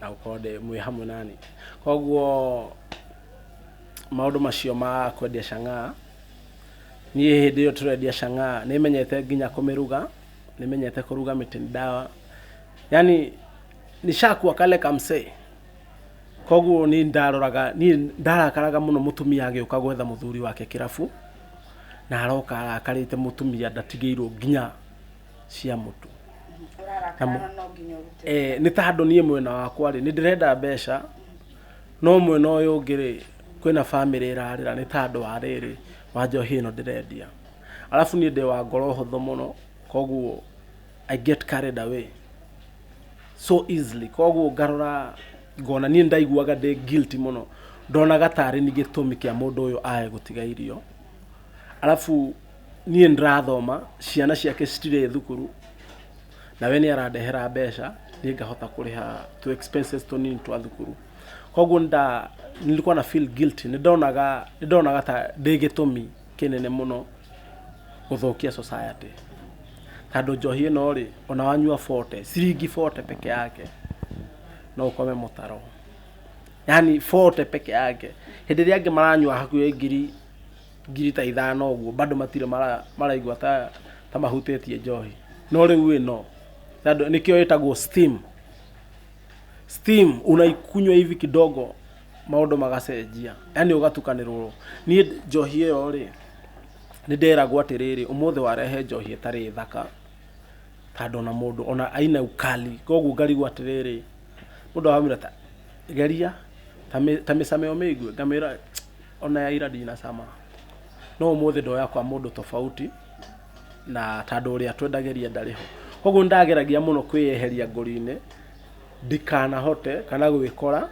na gũkorwo ndĩ mwĩ hamwe nani. Koguo maũndũ macio ma kwendia cang'aa, niĩ hĩndĩ ĩyo tũrendia cang'aa nĩ menyete nginya kũmĩruga, nĩ menyete kũruga mĩtĩ ndawa, yaani nishakuwa kale kamsee. Koguo niĩ nĩ ndaroraga, niĩ nĩ ndarakaraga mũno mũtumia agĩũka gwetha mũthuri wake kĩrabu, na aroka arakarĩte mũtumia ndatigĩirwo nginya. cia mũtu ũrarakara no nginya ũrute eh, nĩ ta handũ niĩ mwena wakwa rĩ nĩ ndĩrenda mbeca no mwena ũyũ ũngĩ rĩ kwĩna bamĩrĩ ĩrarĩra nĩ ta andũ a rĩrĩ wa njohi ĩno ndĩrendia arabu niĩ ndĩ wa ngoro hũthũ mũno koguo i get carried away so easily koguo ngarora ngona niĩ ndaiguaga ndĩ guilty mũno ndonaga tarĩ ni gĩtũmi kĩa mũndũ ũyũ ae gũtiga irio arabu niĩ ndĩrathoma ciana ciake citirĩ thukuru na we nĩ arandehera mbeca niĩ ngahota kũrĩha tũ expenses tũnini twa thukuru koguo nda nilikuwa na feel guilty nĩ ndonaga nĩ ndonaga ta ndĩ gĩtũmi kĩnene mũno gũthũkia society tondũ njohi ĩno rĩ ona wanyua bote ciringi bote peke yake no ũkome mũtaro yani bote peke yake hĩndĩ ĩrĩa angĩ maranyua hakuhĩ ngiri ngiri ta ithano ũguo bado matirĩ mara- maraigua ta ta mahutĩtie njohi no rĩu ĩno tondũ nĩkĩo ĩtagwo steam steam unaikunywa hivi kidogo maũndũ magacenjia yani ũgatukanĩrwo niĩ njohi ĩyo rĩ nĩ nderagwo atĩrĩrĩ ũmũthĩ warehe njohi ĩtarĩ thaka ta ndona mũndũ ona aina ukali koguo ngarigwo atĩrĩrĩ mũndũ aramwĩra ta geria ta mĩ- ta mĩcame ũmĩigue ngamwĩra Ona ya ira ndina cama. No umuthi ndoya kwa mundu tofauti na tandu uria twendagiria ndari ho. Koguo nindageragia muno kwiyeheria ngori-ini ndikanahote kana gwikora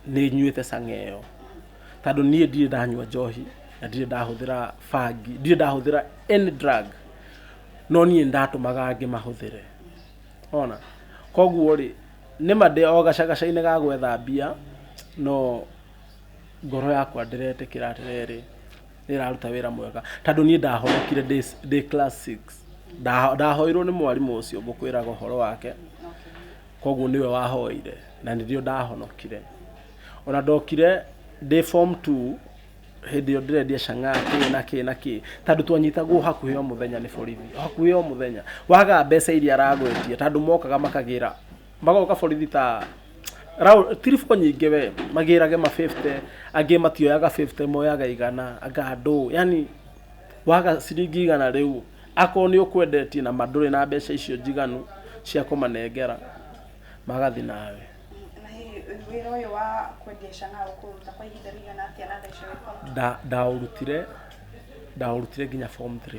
ninyuite cang'a iyo. Tandu nie ndire ndanyua njohi na ndire ndahuthira bangi, ndire ndahuthira any drug. No nie nindatumaga angi mahuthire. Wona? Koguo ri, nima ndi o gacagaca-ini ga gwetha mbia, no ngoro yakwa ndĩretĩkĩra atĩrĩrĩ, nĩ ĩraruta wĩra mwega, tondũ niĩ ndahonokire ndĩ class six, ndahoirwo nĩ mwarimũ ũcio ngũkwĩraga ũhoro wake, koguo nĩwe wahoire na nĩrĩo ndahonokire. Ona ndokire ndĩ form two, hĩndĩ ĩyo ndĩrendia chang'aa kĩĩ na kĩĩ na kĩĩ, tondũ twanyitagwo hakuhĩ o mũthenya nĩ borithi, hakuhĩ o mũthenya, waga mbeca iria aragwetia, tondũ mokaga makagĩra magoka borithi ta rau- tiribũ nyingĩ we magĩrage ma 50 angĩ matioyaga 50 moyaga igana anga ndũ yani waga ciringi igana rĩu akorwo nĩ ũkwendetie na mandũrĩ na mbeca icio njiganu cia kũmanengera magathi nawe Na hihi wĩra ũyũ wa kwendia canga ũkũruta kwa ihinda rĩigana atĩa na mbeca ũrĩkona? Nda- ndaũrutire ndaũrutire nginya form 3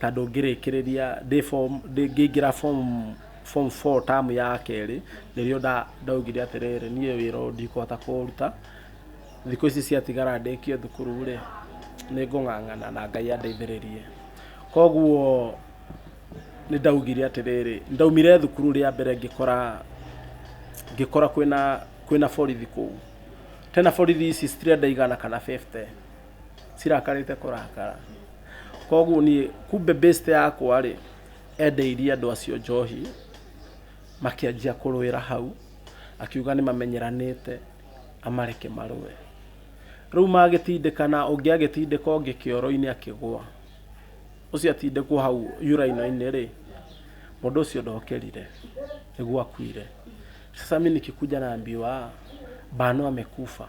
tondũ ngĩrĩkĩrĩria ndĩ form ngĩingĩra form form four term ya kerĩ, nĩrĩo ndaugire atĩrĩrĩ, niĩ wĩra ũyũ ndikũhota kũũruta, thikũ ici ciatigara ndĩkie thukuru rĩ, nĩ ngũng'ang'ana na Ngai andeithĩrĩrie. Koguo nĩ ndaugire atĩrĩrĩ, ndaumire thukuru rĩa mbere ngĩkora ngĩkora kwĩna kwĩna borithi kũu, tena borithi ici citirĩ andũ aigana kana bĩbute. cirakarĩte kũrakara koguo niĩ kumbe best yakwa rĩ endeirie andũ acio njohi makĩanjia kũrũĩra hau akiuga nĩ mamenyeranĩte amareke marũe rĩu magĩtindĩkana ũngĩ agĩtindĩka ũngĩ kĩoro-inĩ akĩgwa ũcio atindĩkwo hau yuraino-inĩ rĩ mũndũ ũcio ndokerire nĩguo akuire sasa mimi nikikuja naambiwa bano amekufa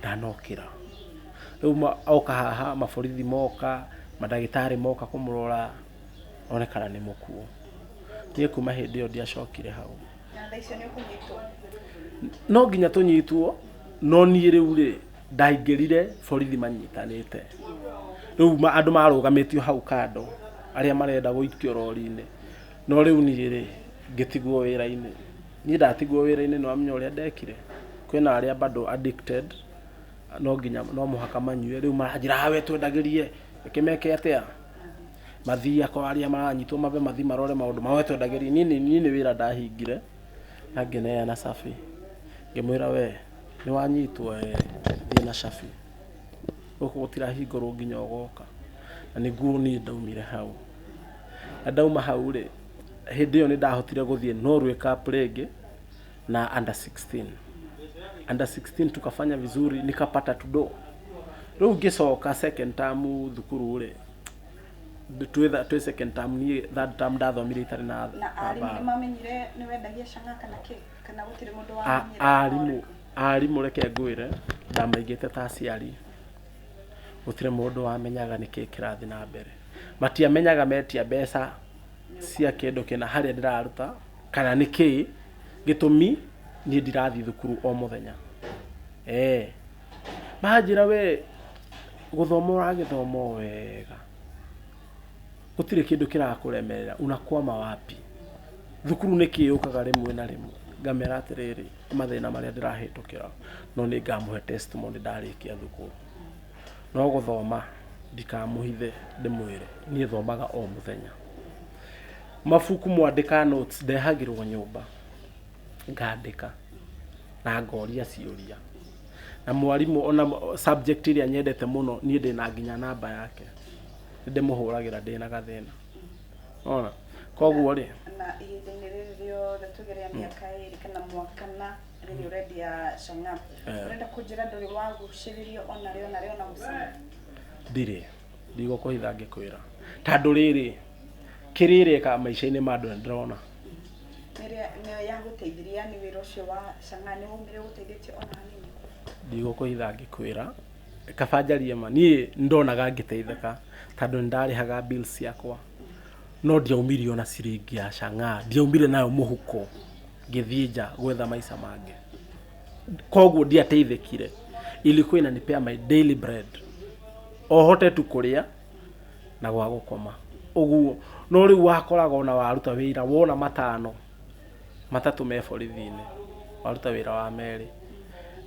ndanokĩra. Rĩu oka haha maborithi moka, mandagĩtarĩ moka kũmũrora one kana nĩ mũkuũ. Niĩ kuma hĩndĩ ĩyo ndiacokire hau. No nginya tũnyitwo, no niĩ rĩu rĩ, ndaingĩrire borithi manyitanĩte. Rĩu andũ marũgamĩtio hau kando arĩa marenda gũikio rori-inĩ, no rĩu niĩ rĩ, ngĩtigwo wĩra-inĩ. Niĩ ndatigwo wĩra-inĩ nĩ wamenya ũrĩa ndekire? Kwĩna arĩa bado addicted, no nginya no mũhaka manyue, rĩu maranjĩra haa we twendagĩrie, reke meke atĩa? Mathiĩ akorwo arĩa maranyitwo mambe mathiĩ marore maũndũ mao, we twendagĩrie. Niĩ nĩ niĩ nĩ wĩra ndahingire, na ngĩneana cabi, ngĩmwĩra we nĩ wanyitwo ee, thiĩ na cabi, gũkũ gũtirahingũrwo nginya ũgoka. Na nĩguo niĩ ndaumire hau. Na ndauma hau rĩ, Hĩndĩ ĩyo nĩ ndahotire gũthiĩ Norway Cup rĩngĩ na under 16. Under 16 tukafanya vizuri nikapata tudo. Rĩu ngĩcoka second term thukuru rĩ twĩ tha- twĩ second term niĩ third term ndathomire itarĩ na na na arimũ nĩ mbaara. mamenyire nĩ wendagia canga kana kĩ kana gũtirĩ mũndũ A- wamenyire arimũ arimũ reke ngwĩre ndamaigĩte ta aciari gũtirĩ mũndũ wamenyaga nĩkĩ kĩrathiĩ na mbere matiamenyaga metia mbeca cia kĩndũ kĩna harĩa ndĩraruta kana nĩ kĩĩ gĩtũmi niĩ ndirathiĩ thukuru o mũthenya. Eeh. Manjĩra we gũthoma ũragĩthoma o wega, gũtirĩ kĩndũ kĩrakũremerera, unakwama wapi? Thukuru nĩkĩ yũkaga rĩmwe na rĩmwe? Ngamera atĩrĩrĩ, nĩ mathĩna marĩa ndĩrahĩtũkĩra no nĩ ngamũhe testimony ndarĩkia thukuru. No gũthoma ndikamũhithe ndĩmwĩre, niĩ thomaga o mũthenya. Mabuku mwandĩka notes ndehagĩrwo nyũmba, ngandĩka na ngoria ciũria. Na mwarimũ ona subject ĩrĩa nyendete mũno niĩ ndĩ na nginya namba yake, nĩ ndĩmũhũragĩra ndĩ na gathĩna. Nĩwona? Koguo rĩ, Na ihinda-inĩ rĩrĩ rĩothe tũgerera mĩaka ĩrĩ kana mwaka na Rĩu nĩ ũrendia cang'aa. Eh. Ũrenda kũnjĩra ndũrĩ wagucĩrĩrio ona rĩ ona rĩ ona gũcama. ndirĩ ndigũkũhitha ngĩkwĩra tandũ rĩrĩ kĩrĩreka maica-inĩ ma andũ nĩ ndĩrona Nĩrĩa nĩyo yagũteithirie yani wĩra ũcio wa cang'aa nĩ waumire ũgũteithĩtie ona hanini. ndigũkũhitha ngĩkwĩra kaba njarie ma niĩ nĩ ndonaga ngĩteithĩka tandũ nĩ ndarĩhaga bills ciakwa No ndiaumire ona ciringi ya chang'aa, ndiaumire nayo mũhuko ngĩthiĩ nja gwetha maica mangĩ. Koguo ndiateithĩkire, ilikuwa inanipea my daily bread, o hote tu kũrĩa na gwa gũkoma ũguo. No rĩu wakoraga ona waruta wĩra wona matano, matatũ me borithi-inĩ, waruta wĩra wa merĩ,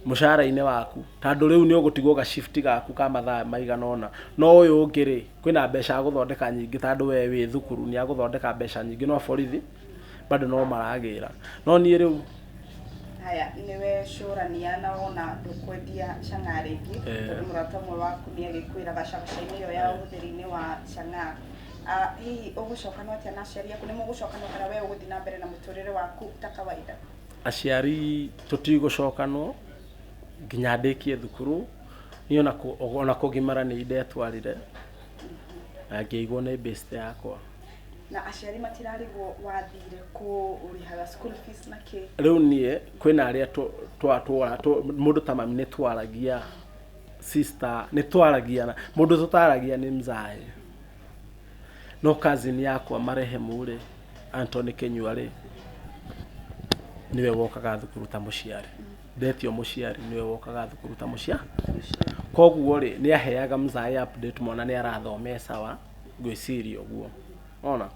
mũcara-inĩ waku, tondũ rĩu nĩ ũgũtigwo ga shift gaku ka mathaa maigana ũna, no ũyũ ũngĩ rĩ, Kwĩna mbeca agũthondeka nyingĩ ta andũ we wĩ thukuru nĩ agũthondeka mbeca nyingĩ no borithi bado no maragĩra no niĩ rĩu Haya, nĩwe cũrania na wona ndũkwendia cang'aa rĩngĩ Eh. tondũ mũrata ũmwe waku nĩ agĩkwĩra gacabaca-inĩ ĩyo ya Eh. ũhũthĩri-inĩ wa cang'aa Ah, hihi ũgũcokana atĩa na aciari aku nĩ mũgũcokana kana we ũgũthiĩ na mbere na mũtũrĩre waku ta kawaida aciari tũtigũcokanwo nginya ndĩkie thukuru Niĩ ona kũ- ona kũgimara nĩ indetwarire na ngĩigwo nĩ best yakwa na aciari matirarigwo wathire kũ ũrĩhaga school fees na kĩ rĩu niĩ kwĩna arĩa tũ- twa- twa- tũ- mũndũ ta mami nĩ twaragia sister nĩ twaragia na- mũndũ tũtaragia nĩ mzae no cousin yakwa marehemu rĩ Anthony Kenyua rĩ nĩwe wokaga thukuru ta mũciari Betio mũciari nĩwe wokaga thukuru ta mũcia koguo rĩ nĩ aheaga mzae update mwana nĩ arathoma e sawa ngwĩciria ũguo ona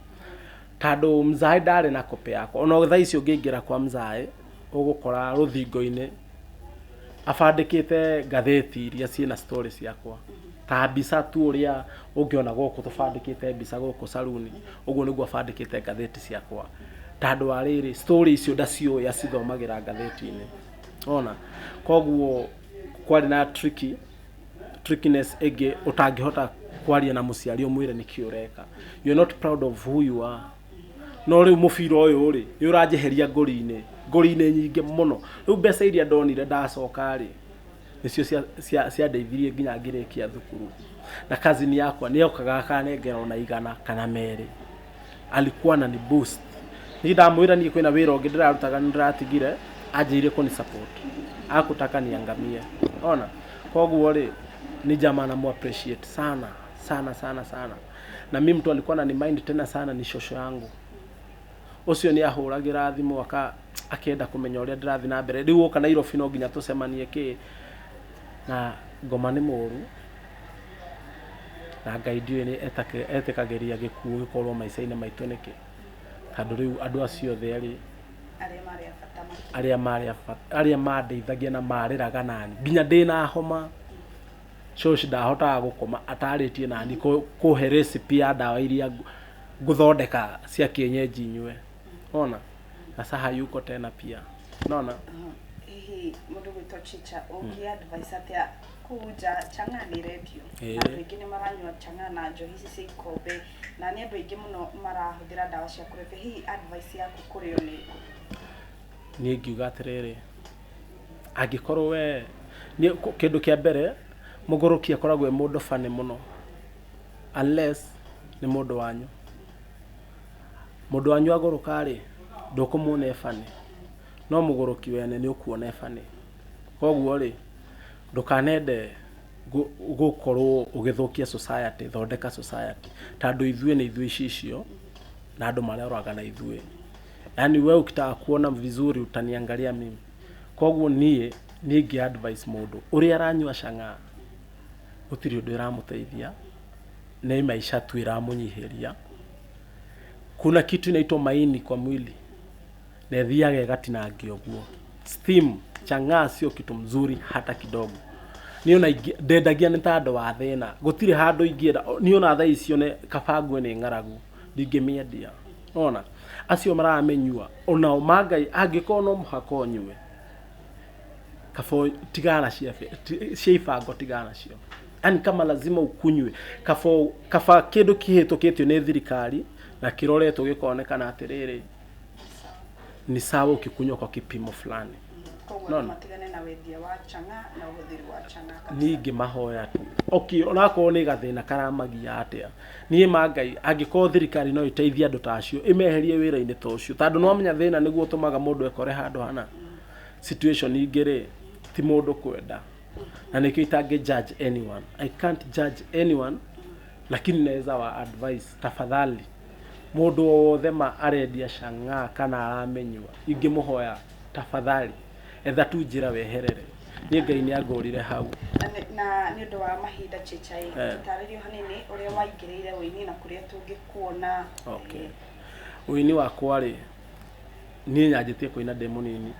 tondũ mzae ndarĩ na kope yakwa ona thaa ici ũngĩingĩra kwa mzae ũgũkora rũthingo-inĩ abandĩkĩte ngathĩti iria ciĩ na story ciakwa ta mbica tu ũrĩa ũngĩona gũkũ tũbandĩkĩte mbica gũkũ caruni ũguo nĩguo abandĩkĩte ngathĩti ciakwa tandå wa rä rä story icio ndaciå acithomagä ngathä-inä ona koguo kwarä na tricky trickiness ĩngĩ ũtangĩhota kwaria na mũciari ũmwĩre nĩkĩ ũreka you're not proud of who you are no rĩu mũbira ũyũ rĩ nĩ ũranjeheria ngori-inĩ ngori-inĩ nyingĩ mũno rĩu mbeca iria ndonire ndacoka rĩ nĩcio cia- cia- ciandeithirie nginya ngĩrĩkia thukuru na cousin yakwa nĩ okaga akanengera ona igana kana merĩ alikuwa anani boost nĩ ndamwĩra niĩ kwĩna wĩra ũngĩ ndĩrarutaga nĩ ndĩratigire anjĩire kũni support akutaka niangamie ona koguo rĩ ni jamaa namu appreciate sana sana sana sana na mi mtu alikuwa anani mind tena sana ni shosho yangu ucio ni ahuragira thimu aka akenda kumenya uria ndirathi na mbere riu uka nairobi no nginya tucemanie ki na ngoma ni muru na ngai ndiũĩ nĩ etaka- etĩkagĩria gĩkuũ gĩkorwo maica-inĩ maitũ nĩkĩ tondũ rĩu andũ acio othe erĩ arĩa marĩ a bata makĩria arĩa marĩ a bata- arĩa mandeithagia na marĩraga nani nginya ndĩ na homa coach ndahotaga gũkoma atarĩtie nani kũ- kũhe recipe ya ndawa iria ngũ- ngũthondeka cia kĩenyenji nyue ona na saha yuko tena pia nona Aha. hihi mũndũ gwĩtwo chicha ũngĩ advice atĩa kũu nja chang'a nĩ rendio Ĩĩ. na andũ aingĩ nĩ maranyua chang'a na njohi ici cia ikombe na nĩ andũ aingĩ mũno marahũthĩra ndawa cia kũrebia hihi advice yaku kũrĩ o nĩ ĩrĩkũ? niĩ ingiuga atĩrĩrĩ angĩkorwo we niĩ kũ- kĩndũ kĩa mbere mũgũrũki akoragwo e mũndũ funny mũno unless nĩ mũndũ wanyu mũndũ wanyu agũrũka rĩ ndũkũmuona e funny no mũgũrũki wene nĩ ũkuona e funny Koguo-rĩ, ndũkanende gũkorwo ũgĩthũkia society, thondeka society. Ta andũ ithuĩ nĩ ithuĩ icicio, na andũ maroraga na ithuĩ. Yaani wewe ukitaka kuona vizuri utaniangalia mimi. Koguo niĩ, niĩ ingĩ advise mũndũ, ũrĩa aranyua cang'aa, gũtirĩ ũndũ ĩramũteithia, nĩ maisha tu ĩramũnyihĩria. Kuna kitu inaitwa maini kwa mwili. Nethiage gatinangio guo. Steam, chang'aa sio kitu mzuri hata kidogo. Niona ingi- ndendagia nĩ ta andũ a thĩna. Gũtirĩ handũ ingĩenda. Niona thaa icio nĩ kaba ngue nĩ ng'aragu. Ndingĩmĩendia. Ona acio maramĩnyua onao mangai angĩkorwo no mũhaka ũnyue kabo tigana cia be- ti- cia ibango tigana cio yani kama lazima ukunywe kabo kaba kĩndũ kĩhĩtũkĩtio nĩ thirikari na kĩroretwo gĩkonekana atĩrĩrĩ Ni sawa. ni sawa ukikunywa kwa kipimo fulani Koguo No, andũ no. matigane na wendia wa chang'aa na ũhũthĩri wa chang'aa kabisa. niĩ ngĩmahoya tu okay onakorwo nĩ gathĩna karamagia atĩa niĩ ma ngai angĩkorwo thirikari no ĩteithie andũ ta acio ĩmeherie wĩra-inĩ ta ũcio tondũ nĩwamenya thĩna nĩguo ũtũmaga mũndũ ekore handũ hana situation ingĩ rĩ ti mũndũ kwenda na nĩkĩo itangĩ judge anyone I can't judge anyone lakini naweza wa advice tafadhali Mũndũ o wothe ma arendia cang'aa kana aramĩnyua, ingĩmũhoya, Tafadhali, etha tu njĩra weherere. Niĩ Ngai nĩangorire hau. Na nĩ- na nĩ ũndũ wa mahinda Chicha ĩ Eh. tũtarĩrie o hanini ũrĩa waingĩrĩire ũini na kũrĩa tũngĩkuona Okay. Ũini wakwa-rĩ, niĩ nyanjĩtie kũina ndĩ mũnini,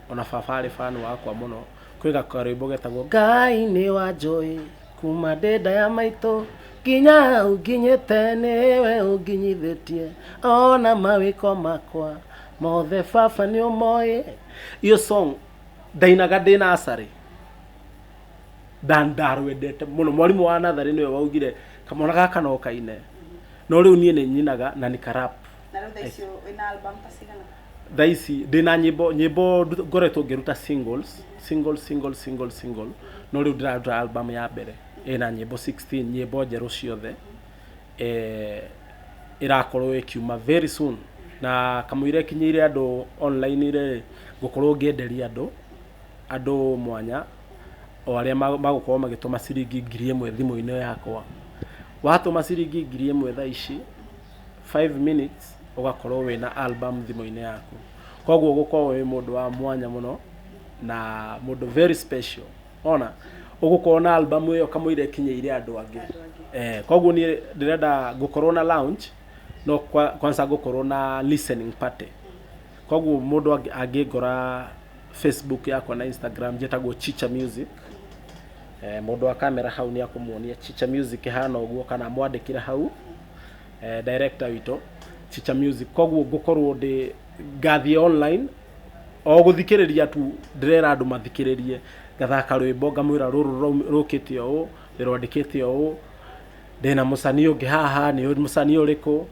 ona baba arĩ fan wakwa mũno. Kwĩ ga- karwĩmbo getagwo Ngai nĩwanjũĩ. kuma ndĩ nda ya maitũ nginya hau nginyĩte nĩwe ũnginyithĩtie ona mawĩko makwa mothe baba nĩ ũmoĩ iyo song ndainaga ndĩ nasarĩ ndarwendete mũno mwarimũ wa natharĩ nĩwe waugire kamwana gaka no kaine no rĩu niĩ nĩ nyinaga na nĩ karap na rä u thaa icio wä na album ta cigana thaa ici ndä na nyimbo nyimbo ndu- ngoretwo ngĩruta singles single single single single no rĩu ndĩraruta album ya mbere ä na nyimbo 16 nyimbo njerũ ciothe eh, ĩrakorwo ĩkiuma very soon na kamũira ĩkinyĩire andũ online rĩ ngũkorwo ngĩenderia andũ andũ mwanya o arĩa ma- magũkorwo magĩtũma ciringi ngiri ĩmwe thimũ-inĩ yakwa watũma ciringi ngiri ĩmwe thaa ici five minutes ũgakorwo wĩna album thimũ-inĩ yaku koguo ũgũkorwo wĩ mũndũ wa mwanya mũno na mũndũ very special ona ũgũkorwo na album ĩyo kamũira ĩkinyĩire andũ angĩ eh, koguo niĩ ndĩrenda ngũkorwo na lounge no kwa, kwanza ngũkorwo na listening party koguo mũndũ angĩ- angĩngora facebook yakwa na instagram njĩtagwo chicha music eh, mũndũ wa kamera hau nĩ akũmuonia chicha music ĩhana ũguo kana mwandĩkĩre hau eh, director witũ Chicha Music koguo ngũkorwo ndĩ ngathiĩ online o gũthikĩrĩria tu ndĩrera andũ mathikĩrĩrie ngathaka rwĩmbo ngamwĩra rũrũ rũraum- rũkĩte ũũ ndĩrwandĩkĩte ũũ ndĩna mũcani ũngĩ haha nĩ ũyũ mũcani ũrĩkũ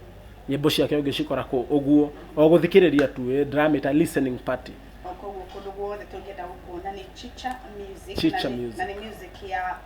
nyĩmbo ciake ũngĩcikora kũ ũguo o gũthikĩrĩria tu eh, ndĩramĩta listening party koguo kũndũ guothe tũngĩenda gũkuona nĩ chicha music Chicha na nĩ- Music. na nĩ music ya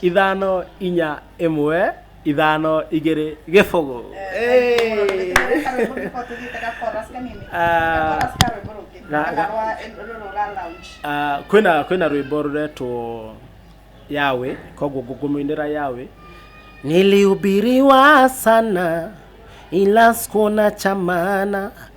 ithano inya ĩmwe ithano igĩrĩ gĩbũgũ Ah, kwĩna kwĩna rwĩmbo rũretwo yawe koguo ngũkũmũinĩra yawe nilihubiriwa sana ila sikuona cha maana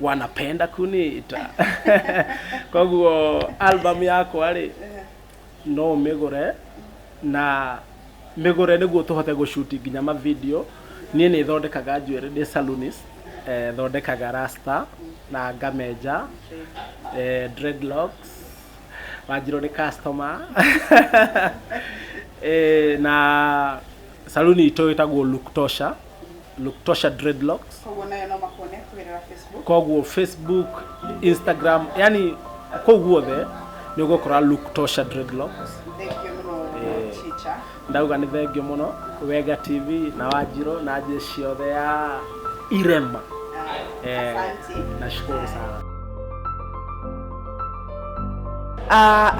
wanapenda kunita koguo album yakwa rĩ no mĩgũre na mĩgũre nĩguo tũhote gũcuti nginya mavideo niĩ nĩ thondekaga njuĩrĩ ndĩ salonist eh, thondekaga rasta na ngamenja eh, dreadlocks wanjirwo nĩ customer eh, na saluni itũ ĩtagwo look tosha Luktosha dreadlocks koguo nayo no makuone kũgerera facebook koguo facebook instagram yani kũu guothe nĩ ũgũkora Luktosha dreadlocks thengio mũno Eh. chicha ndauga nĩ thengio mũno wega tv na wanjirũ na njĩ ciothe ya irema Ah, Eh, asante. nashukuru sana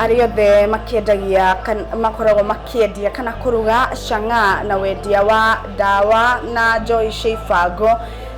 arĩa othe makĩendagia makoragwo makĩendia kana kũruga cang'aa na wendia wa ndawa na njohi cia ibango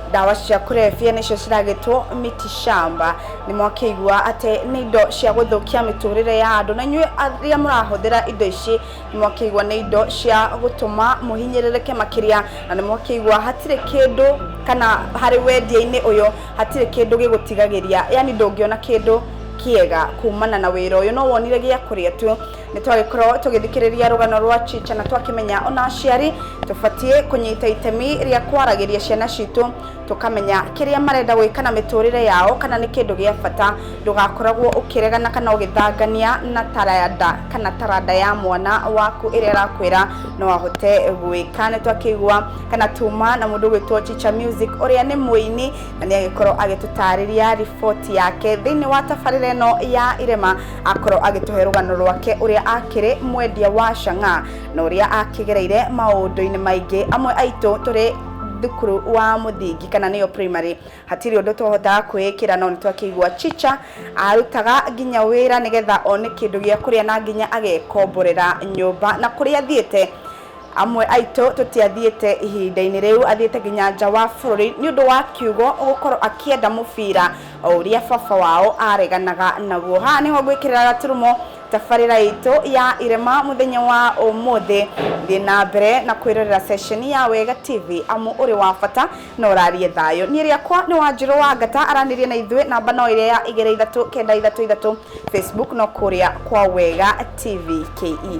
ndawa cia kũrebia nĩcio ciragĩtwo miti shamba nĩ mwakĩigua atĩ nĩ indo cia gũthũkia mĩtũrĩre ya andũ na inyuĩ arĩa mũrahũthĩra indo ici nĩ mwakĩigua nĩ indo cia gũtũma mũhinyĩrĩrĩke makĩria na nĩ mwakĩigua hatirĩ kĩndũ kana harĩ wendia-inĩ ũyũ Hatirĩ kĩndũ gĩgũtigagĩria, yaani ndũngĩona kĩndũ kĩega kumana na wĩra ũyũ. No wonire gĩa kũrĩa tu. Nĩ twagĩkorwo tũgĩthikĩrĩria rũgano rwa Chicha na twakĩmenya o na aciari tũbatiĩ kũnyita itemi rĩa kwaragĩria ciana citũ, tũkamenya kĩrĩa marenda gwĩka na mĩtũrĩre yao kana nĩ kĩndũ gĩa bata. Ndũgakoragwo ũkĩregana kana ũgĩthangania na taranda kana taranda ya mwana waku ĩrĩa ĩrakwĩra no ahote gwĩka. Nĩ twakĩigua kana tuma na mundu gwitwo Chicha Music uria ni muini na ni agikorwo agitutariria report yake thiini wa tabarira ino ya irema akorwo agituhe rugano rwake uria akiri mwendia wa shanga na uria akigereire maundu-ini maingi amwe aitu turi thukuru wa muthingi kana niyo primary hatiri undu twahotaga kwikira no nitwakigwa chicha arutaga nginya wira nigetha one kindu gia kuria na nginya agekomborera nyumba na kuria thiete Amwe aitũ tũtiathiĩte ihinda-inĩ rĩu, athiĩte nginya nja wa bũrũri nĩ ũndũ wa kiugo gũkorwo akĩenda mũbira o ũrĩa baba wao areganaga naguo. Haha nĩho ngwĩkĩrĩra gaturumo tabarĩra itũ ya irema mũthenya wa ũmũthĩ. Thiĩ na mbere na kwĩrorera ceceni ya Wega TV amu ũrĩ wa bata na ũrariĩ thayũ. Niĩ rĩakwa nĩ Wanjirũ wa Ngata, aranĩria na ithuĩ namba no ĩrĩa ya igĩrĩ ithatũ kenda ithatũ ithatũ, Facebook no kũrĩa kwa Wega TV KE.